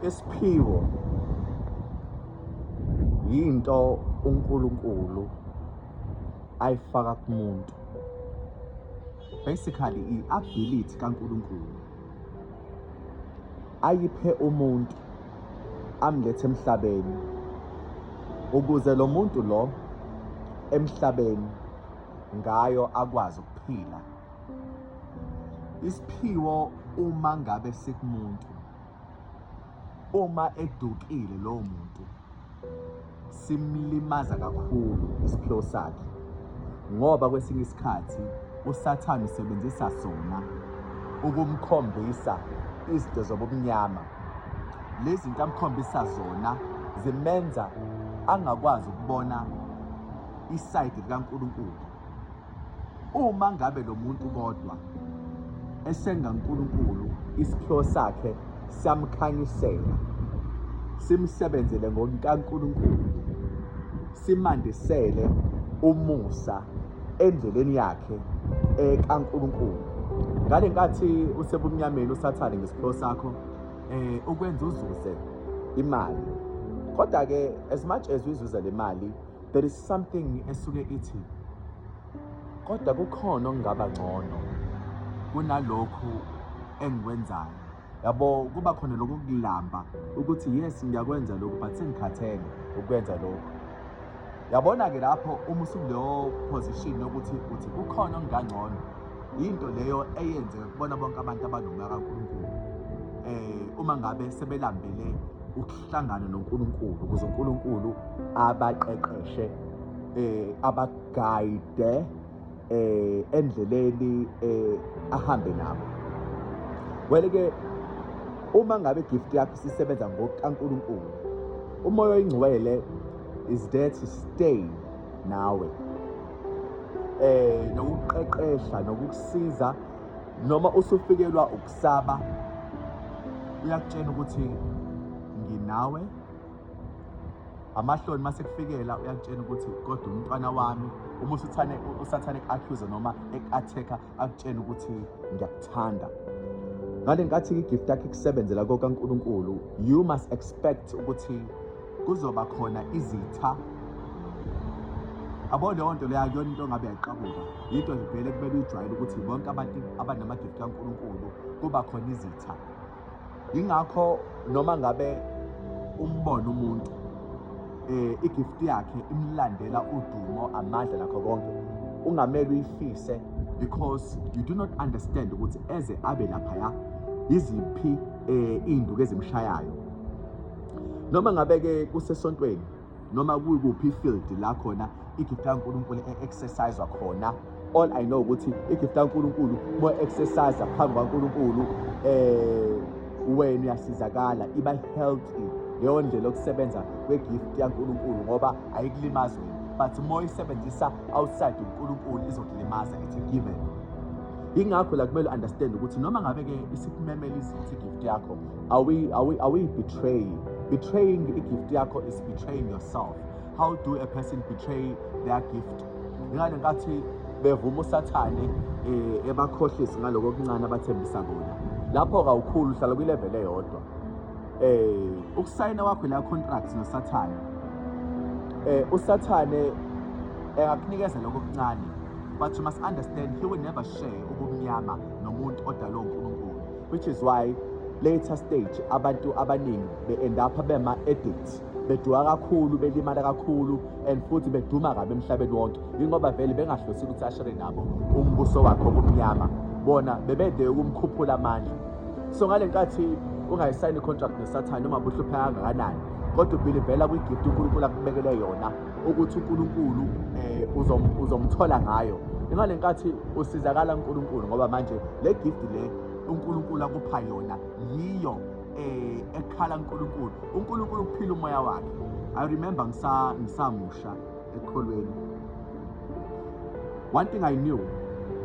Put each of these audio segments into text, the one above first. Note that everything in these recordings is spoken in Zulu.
Isiphiwo yinto uNkulunkulu ayifaka kumuntu. Basically i-ability kaNkulunkulu ayiphe umuntu amlethe emhlabeni ukuze lo muntu lo emhlabeni ngayo akwazi ukuphila. isiphiwo uma ngabe sikumuntu uma edukile lowo muntu simlimaza kakhulu isiphiwo sakhe ngoba kwesinye isikhathi usathane usebenzisa sona ukumkhombisa izinto zobumnyama lezi zinto amkhombisa zona zimenza angakwazi ukubona isayidi likaNkulunkulu uma ngabe lo muntu kodwa esenga uNkulunkulu isiphiwo sakhe samkhanyisela simsebenzele ngonkaNkulunkulu simandisele umusa endleleni yakhe ekaNkulunkulu ngale nkathi usebumnyameni usathane ngesiphiwo sakho eh ukwenza uzuze imali kodwa ke as much as uyizuza le mali there is something esuke ithi kodwa kukhona okungaba ngcono kunalokhu engikwenzayo yabo kuba khona lokho kulamba ukuthi yes ngiyakwenza lokhu but sengikhathele ukwenza lokhu yabona-ke lapho uma usukuleyo position yokuthi uthi kukhona okungangcono yinto leyo eyenzeka kubona bonke abantu abanomaka kaNkulunkulu um eh, uma ngabe sebelambele Hlangane noNkulunkulu ukuze uNkulunkulu abaqeqeshe eh abagayide eh endleleni eh ahambe nabo. Well ke uma ngabe gift yakho sisebenza ngokukaNkulunkulu umoya oyingcwele is there to stay nawe eh nokuqeqesha nokukusiza noma usufikelwa Saba uyakutshena ukuthi nginawe amahloni uma sekufikela uyakutshena ukuthi kodwa umntwana wami uma usuthane usathane eku-accuse noma eku-attack-a akutshena ukuthi ngiyakuthanda ngale nkathi igift yakhe ikusebenzela kokankulunkulu you must expect ukuthi kuzoba khona izitha abo leyo nto leyo akuyona into engabe yayiqabuka yinto vele kumele uyijwayele ukuthi bonke abantu abanamagifti kankulunkulu kuba khona izitha yingakho noma ngabe umbona umuntu eh igifti yakhe imlandela udumo amandla nakho konke ungamele uyifise because you do not understand ukuthi eze abe lapha ya iziphi eh induku ezimshayayo noma ngabe-ke kusesontweni noma kuyikuphi ifield la khona igift kankulunkulu e-exerciswa khona all i know ukuthi igift kankulunkulu uma exercise phambi kwankulunkulu eh wena uyasizakala iba healthy leyo ndlela yokusebenza kwegift yankulunkulu ngoba ayikulimazi wena but uma uyisebenzisa outside unkulunkulu izokulimaza it's a given yingakho la kumele understand ukuthi noma ngabe-ke isikumemela izithi igift yakho Are we, are we, are we betraying? Betraying a gift yakho is betraying yourself. How do a person betray their gift? Ngani ngathi bevuma usathane eh, ebakhohlisi ngaloko okuncane abathembisa kona. Lapho kawukhulu uhlala kwilevel eyodwa. Eh ukusayina wakho la contract nosathane. Eh usathane engakunikeza lokho okuncane but you must understand he will never share ubumnyama nomuntu odalwe uNkulunkulu which is why later stage abantu abaningi be-end up bema-addict beduka kakhulu belimala kakhulu and futhi beduma kabi emhlabeni wonke yingoba vele bengahlosile ukuthi ashere nabo umbuso wakhe obumnyama bona bebede ukumkhuphula amandla so ngale nkathi ungayisayini i-contract nesathane noma buhlupheka kangakanani kodwa ubhilivela kwi-gift unkulunkulu akubekele yona ukuthi uNkulunkulu eh uzomthola ngayo imali nkathi usizakala uNkulunkulu ngoba manje le gift le uNkulunkulu akupha yona yiyo eh ekhala uNkulunkulu uNkulunkulu ukuphila umoya wakhe i remember ngisa ngisamusha ekholweni one thing i knew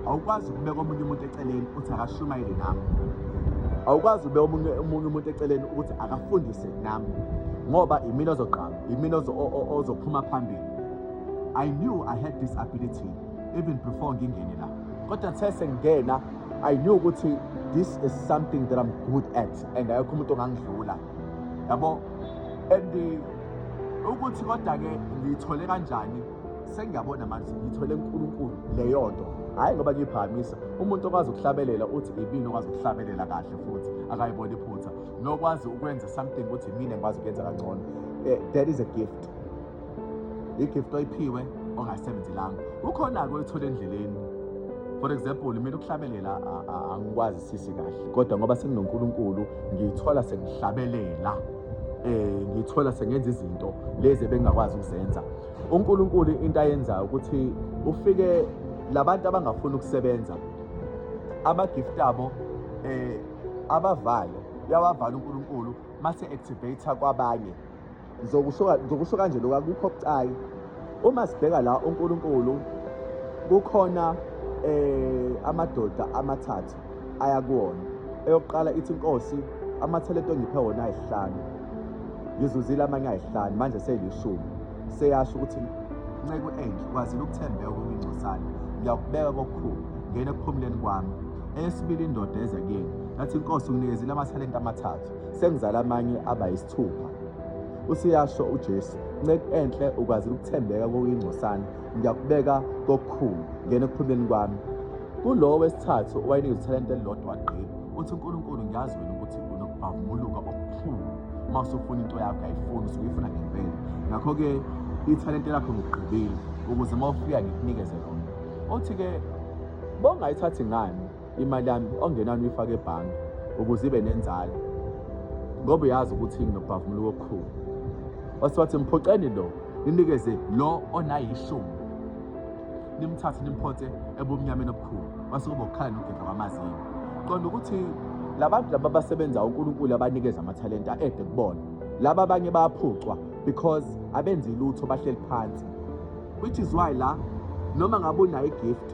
awukwazi ukubeka omunye umuntu eceleni uthi akashumayele nami awukwazi ube omunye omunye umuntu eceleni ukuthi akafundise nami ngoba imina ozoqala imina ozophuma phambili i knew i had this ability even before ngingene la kodwa the sengingena i knew ukuthi this is something that i'm good at and ayekho umuntu ongangidlula yabo and ukuthi kodwa-ke ngiyithole kanjani sengiyabona manje ngithwele uNkulunkulu leyo nto hhayi ngoba ngiyiphakamisa umuntu okwazi ukuhlabelela uthi ibini okwazi ukuhlabelela kahle futhi akayibona iphutha nokwazi ukwenza something ukuthi mina ngikwazi ukuyenza kangcono eh, that is a gift i-gift oyiphiwe ongayisebenzelanga kukhona-ke oyithola endleleni for example mina ukuhlabelela angikwazi sisi kahle kodwa ngoba senginonkulunkulu ngiyithola sengihlabelela eh ngithola sengenza izinto lezi ebengakwazi ukuzenza uNkulunkulu into ayenzayo ukuthi ufike labantu abangafuni ukusebenza amagift abo eh abavalo uyawavala uNkulunkulu mase activate kwabanye ngizokusho ngizokusho kanje lokho akukho bucayi uma sibheka la uNkulunkulu kukhona eh amadoda amathathu aya kuwona eyokuqala ithi inkosi amathelente ongiphe wona ayihlanu ngizuzile amanye ayihlanu manje seyilishumi seyasho ukuthi nceku enhle kwazile ukuthembeka kwemincosana ngiyakubeka kokukhulu ngena ekuphumuleni kwami eyesibili indoda eza kini yathi inkosi unginikezile amathalente amathathu sengizala amanye aba yisithupha usiyasho ujesu nceku enhle ukwazile ukuthembeka kokuyingcosana ngiyakubeka kokukhulu ngena ekuphumeni kwami kulowo wesithathu owayenikeza ithalente elilodwa wagqiba uthi unkulunkulu ngiyazi wena ukuthi unokubhavumuluka okukhulu uma usufuna into yakho ayifuni usuke uyifuna ngempela ngakho-ke ithalente lakho ngigqibile ukuze uma ufika ngikunikeze lona othi-ke bongayithathi ngani imali yami ongenani uyifake ebhange ukuze ibe nenzalo ngoba uyazi ukuthi nginobhavumula wokukhulu wase wathi mphoxeni lo ninikeze lo onayishumi nimthathe nimphonse ebumnyameni obukhulu wase kuba ukukhala nokugedla kwamazinyo qonda ukuthi labantu laba basebenza uNkulunkulu abanikeza amathalenta ede kubona laba abanye bayaphucwa because abenzi lutho bahleli phansi which is why la noma ngabe unayo igift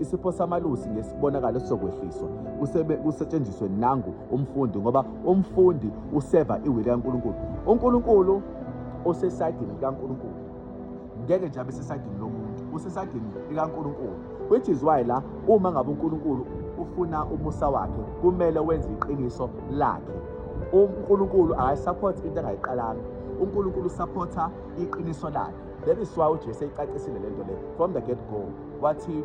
Isipho samalusi ngesibonakalo sizokwehliswa kusebe kusetshenziswe nangu umfundi ngoba umfundi useva iwili kaNkulunkulu. UNkulunkulu osesayidini likaNkulunkulu ngeke nje abe sesayidini lomuntu, usesayidini likaNkulunkulu which is why la uma ngabe uNkulunkulu ufuna umusa wakhe kumele wenze iqiniso lakhe. UNkulunkulu akayisupport into angayiqalanga. UNkulunkulu usupporta iqiniso lakhe. That is why uJesu eyicacisile lento le from the get go. wathi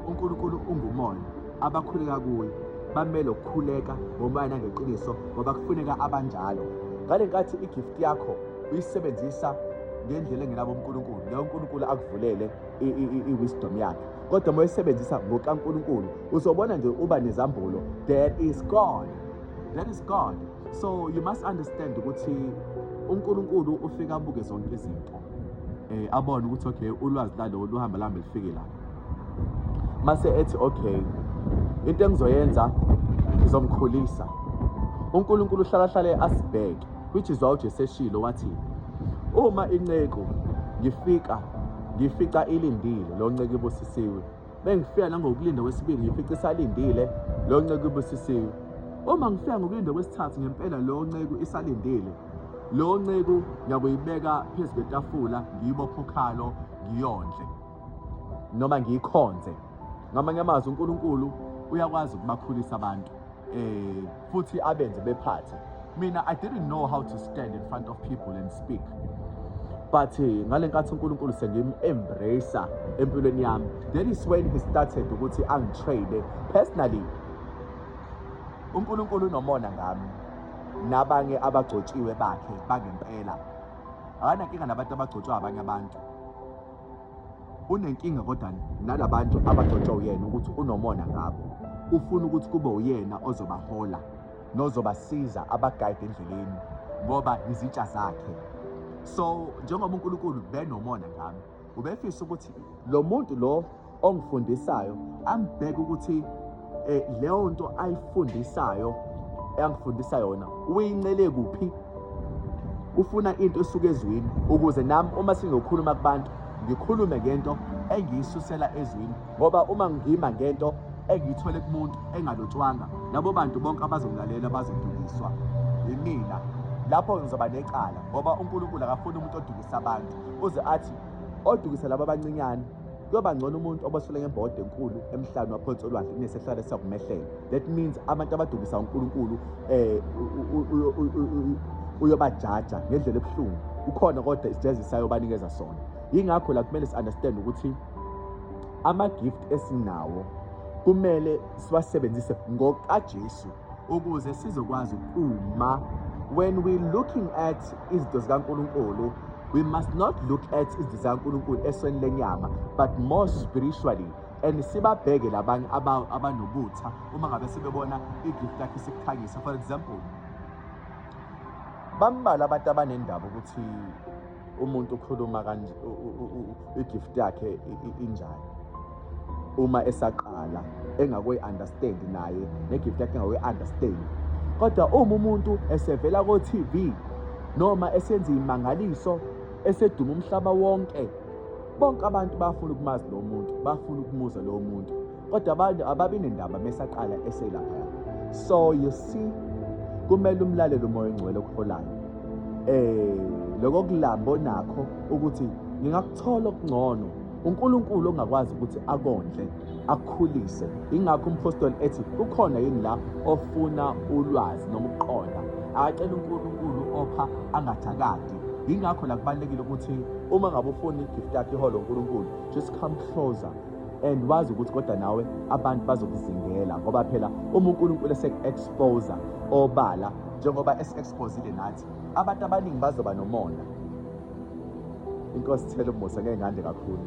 uNkulunkulu ungumoya abakhuleka kuye bamele ukukhuleka ngomoya nangeqiniso ngoba kufuneka abanjalo ngale nkathi igift yakho uyisebenzisa ngendlela engenabo uNkulunkulu leyo uNkulunkulu akuvulele i-wisdom yakhe kodwa uma uyisebenzisa ngokaNkulunkulu uzobona nje uba nezambulo there is God there is God so you must understand ukuthi uNkulunkulu ufika abuke zonke izinto eh abone ukuthi okay ulwazi lalo luhamba lambe lifike la mase ethi okay into engizoyenza ngizomkhulisa uNkulunkulu uhlala hlale asibheke which is why uJesu eshilo wathi uma inceku ngifika ngifica ilindile lo nceku ibusisiwe Bengifika nangokulinda kwesibili ngifice isalindile lo nceku ibusisiwe. Uma ngifika ngokulinda kwesithathu ngempela lo nceku isalindile. Lo nceku ngiyakuyibeka phezu kwetafula ngiyibophe ukhalo ngiyondle noma ngiyikhonze. Ngamanye amazwi uNkulunkulu uyakwazi ukubakhulisa abantu. Eh futhi abenze bephathe mina i didn't know how to stand in front of people and speak but eh, ngale nkathi uNkulunkulu sengim-embrace empilweni yami that is when he started ukuthi angitrade personally uNkulunkulu unomona ngami nabanye abagcotshiwe bakhe bangempela akanankinga nabantu abagcotshwa abanye abantu unenkinga kodwa nalabantu abagcotshwa uyena ukuthi unomona ngabo ufuna ukuthi kube uyena ozobahola nozobasiza abagayide endleleni ngoba izitsha zakhe so njengoba uNkulunkulu benomona ngami ubefisa ukuthi lo muntu lo ongifundisayo ambheke ukuthi eh leyo nto ayifundisayo eyangifundisa yona uyincele kuphi ufuna into esuka ezwini ukuze nami uma singokhuluma kubantu ngikhulume ngento engiyisusela ezwini ngoba uma ngima ngento engiyithole kumuntu engalotshwanga labo bantu bonke abazongilalela bazodukiswa yimina lapho ngizoba necala ngoba uNkulunkulu akafuni umuntu odukisa abantu uze athi odukisa laba abancinyane kuyoba ngcono umuntu obosele ngembode enkulu emhlabeni waphansi olwandle kunesehlala siyakumehlela that means abantu abadukisa unkulunkulu um uyobajaja ngendlela ebuhlungu kukhona kodwa isijezi sayobanikeza sona yingakho la kumele si-understand ukuthi ama-gift esinawo kumele siwasebenzise ngokajesu ukuze sizokwazi ukuma when we looking at izinto zikaNkulunkulu we must not look at izinto zikaNkulunkulu esweni lenyama but more spiritually and sibabheke labanye abanobutha uma ngabe sebebona igift lakhe sikukhanyisa for example bambalwa abantu abanendaba ukuthi umuntu ukhuluma kanje igift yakhe injani uma esaqala engakoyi understand naye negift yakhe engakoyi understand kodwa uma umuntu esevela ko TV noma esenza imangaliso eseduma umhlaba wonke bonke abantu bafuna ukumazi lo muntu bafuna ukumuza lo muntu kodwa abantu ababi nendaba mesaqala eselaphaya so you see kumele umlalele umoya ongcwele okuholayo eh lokho kulamba onakho ukuthi ngingakuthola okungcono uNkulunkulu ongakwazi ukuthi akondle akukhulise ingakho umphostoli ethi kukhona yini la ofuna ulwazi noma ukuqonda akacela uNkulunkulu opha angathakadi ingakho la kubalekile ukuthi uma ngabe ufuna igift yakhe iholo uNkulunkulu just come closer and wazi ukuthi kodwa nawe abantu bazokuzingela ngoba phela uma uNkulunkulu esek-exposa obala njengoba esi-exposile nathi abantu abaningi bazoba nomona inkosi thela umusa ngeke ngande kakhulu